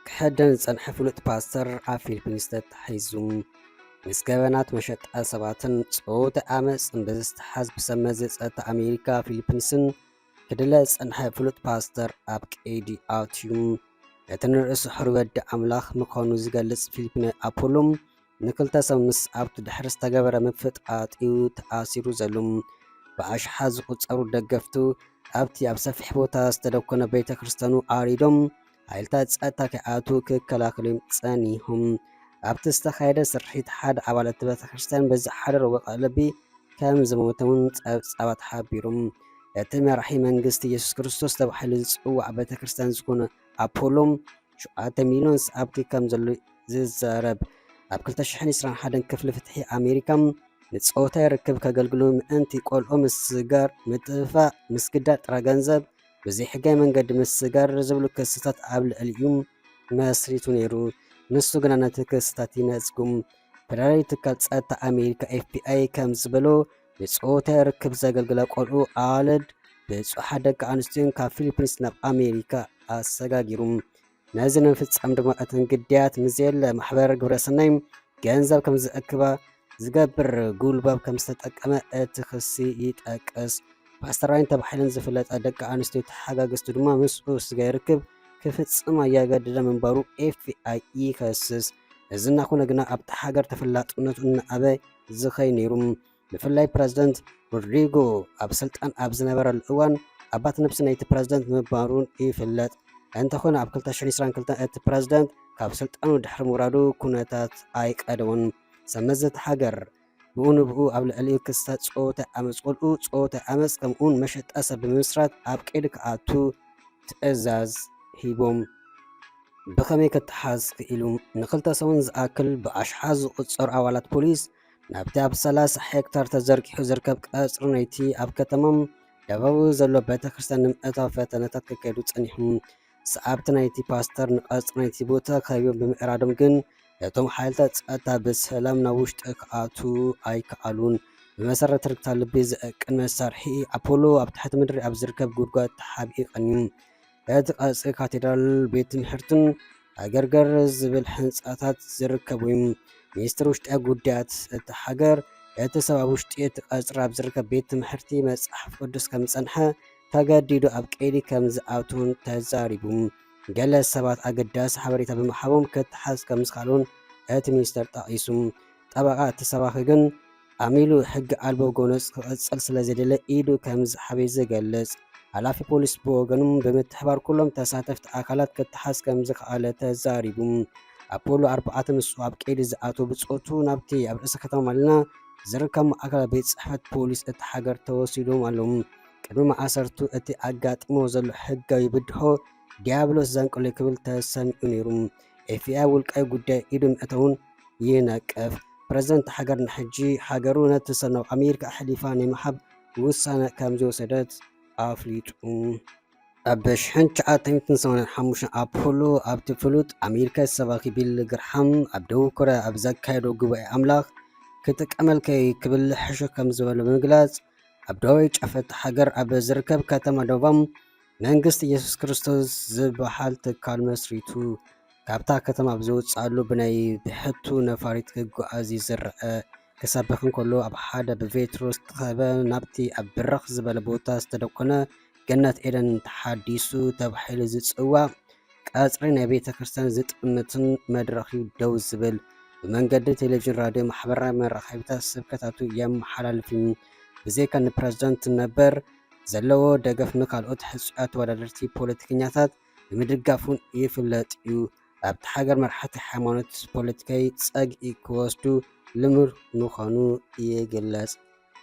ክሕደን ዝጸንሐ ፍሉጥ ፓስተር ኣብ ፊሊፒንስ ተታሒዙ ምስ ገበናት መሸጣ ሰባትን ጾውቲ ዓመፅን ብዝተሓዝ ብሰብ መዚ ጸጥታ ኣሜሪካ ፊሊፒንስን ክድለ ዝጸንሐ ፍሉጥ ፓስተር ኣብ ቀይዲ ኣትዩ እቲ ንርእሱ ሕሪ ወዲ ኣምላኽ ምዃኑ ዝገልጽ ፊሊፒነ ኣፖሎም ንክልተ ሰብ ምስ ኣብቲ ድሕሪ ዝተገበረ ምፍጥጳጥ'ዩ ተኣሲሩ ዘሉ። ብኣሽሓት ዝቑጸሩ ደገፍቱ ኣብቲ ኣብ ሰፊሕ ቦታ ዝተደኮነ ቤተ ክርስቲያኑ ዓሪዶም ሓይልታት ጸጥታ ከይኣትዉ ክከላኸሉ'ዮም ጸኒሆም። ኣብቲ ዝተኻየደ ስርሒት ሓደ ኣባል እቲ ቤተ ክርስቲያን ብዝሓደሮ ወቕዒ ልቢ ከም ዝሞተ'ውን ጸብጻባት ሓቢሮም። እቲ መራሒ መንግስቲ የሱስ ክርስቶስ ተባሂሉ ዝጽዋዕ ቤተ ክርስቲያን ዝኾነ ኣፖሎ ሸውዓተ ሚልዮን ሰዓብቲ ከም ዘሎ'ዩ ዝዛረብ። ኣብ ክልተ ሽሕን ዕስራን ሓደን ክፍሊ ፍትሒ ኣሜሪካ፣ ንጾታዊ ርክብ ከገልግሉ ምእንቲ ቆልዑ ምስጋር፣ ምጥፍፋእ፣ ምስግዳድ ጥረ ገንዘብ፣ ብዘይሕጋዊ መንገዲ ምስጋር ዝብሉ ክስታት ኣብ ልዕሊኡ መስሪቱ ነይሩ። ንሱ ግና ነቲ ክስታት ይነጽጉ። ፈደራላዊ ትካል ጸጥታ ኣሜሪካ፣ ኤፍቢኣይ፣ ከም ዝበሎ፣ ብጾተ ርክብ ዘገልግላ ቆልዑ ኣዋልድ ብጹሓት ደቂ ኣንስትዮን ካብ ፊሊፒንስ ናብ ኣሜሪካ ኣሰጋጊሩ። ነዚ ንምፍጻም ድማ እተን ግዳያት ንዘየለ ማሕበር ግብረሰናይ ገንዘብ ከም ዝእክባ ዝገብር ጉልባብ ከም ዝተጠቀመ እቲ ክሲ ይጠቅስ። ፓስተር ራይን ተባሒለን ዝፍለጣ ደቂ ኣንስትዮ ተሓጋገዝቱ ድማ ምስኡ ስጋይ ርክብ ክፍጽማ እያገደደ ምንባሩ ኤፍቢኣይ ይኸስስ። እዚ እናኾነ ግና ኣብታ ሃገር ተፈላጥነቱ እናኣበ እዚ ከይነይሩ ብፍላይ ፕረዚደንት ሮድሪጎ ኣብ ስልጣን ኣብ ዝነበረሉ እዋን ኣባት ነብሲ ናይቲ ፕረዚደንት ምንባሩ ይፍለጥ። እንተኾነ ኣብ 2022 እቲ ፕረዚደንት ካብ ስልጣኑ ድሕሪ ምውራዱ ኩነታት ኣይቀደሞን። ሰብ መዚ እታ ሃገር ብኡ ንብኡ ኣብ ልዕሊኡ ክስታት ጸወታ ዓመጽ ቁልኡ ጸወታ ዓመጽ ከምኡውን መሸጣ ሰብ ብምምስራት ኣብ ቀይዲ ክኣቱ ትእዛዝ ሂቦም። ብኸመይ ክተሓዝ ክኢሉ? ንኽልተ ሰሙን ዝኣክል ብኣሽሓት ዝቑጸሩ ኣባላት ፖሊስ ናብቲ ኣብ ሰላሳ ሄክታር ተዘርጊሑ ዝርከብ ቀጽሪ ናይቲ ኣብ ከተማ ደበዊ ዘሎ ቤተ ክርስቲያን ንምእታው ፈተነታት ክካየዱ ጸኒሑ። ሰዓብቲ ናይቲ ፓስተር ንቀጽሪ ናይቲ ቦታ ከቢቦም ብምዕራዶም ግን ነቶም ሓይልታት ጸጥታ ብሰላም ናብ ውሽጢ ክኣትዉ ኣይከኣሉን። ብመሰረት ትርክታ ልቢ ዘእቅን መሳርሒ ኣፖሎ ኣብ ትሕቲ ምድሪ ኣብ ዝርከብ ጉድጓድ ተሓቢኡ ቀንዩ። በቲ ቀጽሪ ካቴድራልን ቤት ትምህርትን ሃገርገር ዝብል ሕንጻታት ዝርከቡ እዮም። ሚኒስትር ውሽጢ ጉዳያት እታ ሃገር እቲ ሰብ ኣብ ውሽጢ እቲ ቀጽሪ ኣብ ዝርከብ ቤት ትምህርቲ መጽሓፍ ቅዱስ ከም ዝጸንሐ ተገዲዱ ኣብ ቀይዲ ከም ዝኣትውን ተዛሪቡ። ገለ ሰባት ኣገዳሲ ሓበሬታ ብምሃቦም ክተሓዝ ከም ዝኸኣሉን እቲ ሚኒስተር ጠቒሱ። ጠበቓ እቲ ሰባኺ ግን ኣሚሉ ሕጊ ኣልቦ ጎነጽ ክቕጽል ስለ ዘይደለ ኢዱ ከም ዝሓበዩ ዝገልጽ ሓላፊ ፖሊስ ብወገኑ ብምትሕባር ኩሎም ተሳተፍቲ ኣካላት ክተሓዝ ከም ዝኸኣለ ተዛሪቡ። ኣፖሎ ኣርባዕተ ምስ ኣብ ቀይዲ ዝኣተወ ብጾቱ ናብቲ ኣብ ርእሰ ከተማ ማልና ዝርከብ ማእከላ ቤት ጽሕፈት ፖሊስ እቲ ሃገር ተወሲዶም ኣለዉ። ቅድሚ ማእሰርቱ እቲ ኣጋጢሞ ዘሎ ሕጋዊ ብድሆ ዲያብሎስ ዘንቅሎ ክብል ተሰሚዑ ነይሩ። ኤፍቢኣይ ውልቃዊ ጉዳይ ኢዱ ምእታውን ይነቅፍ። ፕረዚደንት ሃገር ንሕጂ ሃገሩ ነቲ ሰብ ናብ ኣሜሪካ ኣሕሊፋ ናይ ምሃብ ውሳነ ከምዝወሰደት ኣፍሊጡ። ኣብ ሽሕን ትሽዓተ ሚእትን ሰማንያን ሓሙሽተን ኣፕሉ ኣብቲ ፍሉጥ ኣሜሪካዊ ሰባኺ ቢሊ ግርሃም ኣብ ደቡብ ኮርያ ኣብ ዘካየዶ ጉባኤ ኣምላኽ ክጥቀመልከ እዩ ክብል ሕሹኽ ከም ዝበሎ ብምግላጽ ኣብ ደቡባዊ ጫፍ እታ ሃገር ኣብ ዝርከብ ከተማ ዶቫም መንግስት ኢየሱስ ክርስቶስ ዝበሃል ትካል መስሪቱ ካብታ ከተማ ኣብ ዝወጽኣሉ ብናይ ብሕቱ ነፋሪት ክጓዓዝ ይዝርዐ ክሰብኽ እንከሎ ኣብ ሓደ ብቬትሮ ዝተኸበ ናብቲ ኣብ ብርኽ ዝበለ ቦታ ዝተደኮነ ገነት ኤደን ተሓዲሱ ተባሂሉ ዝጽዋዕ ቀጽሪ ናይ ቤተ ክርስቲያን ዝጥምትን መድረኽ እዩ ደው ዝብል ብመንገዲ ቴሌቪዥን ራድዮ ማሕበራዊ መራኸቢታት ስብከታቱ የመሓላልፍ እዩ ብዘይካ ንፕረዚደንት ነበር ዘለዎ ደገፍ ንካልኦት ሕጹያት ተወዳደርቲ ፖለቲከኛታት ብምድጋፍ'ውን ይፍለጥ'ዩ። ኣብታ ሃገር መራሕቲ ሃይማኖት ፖለቲካዊ ጸግዒ ክወስዱ ልሙድ ምዃኑ ይግለጽ።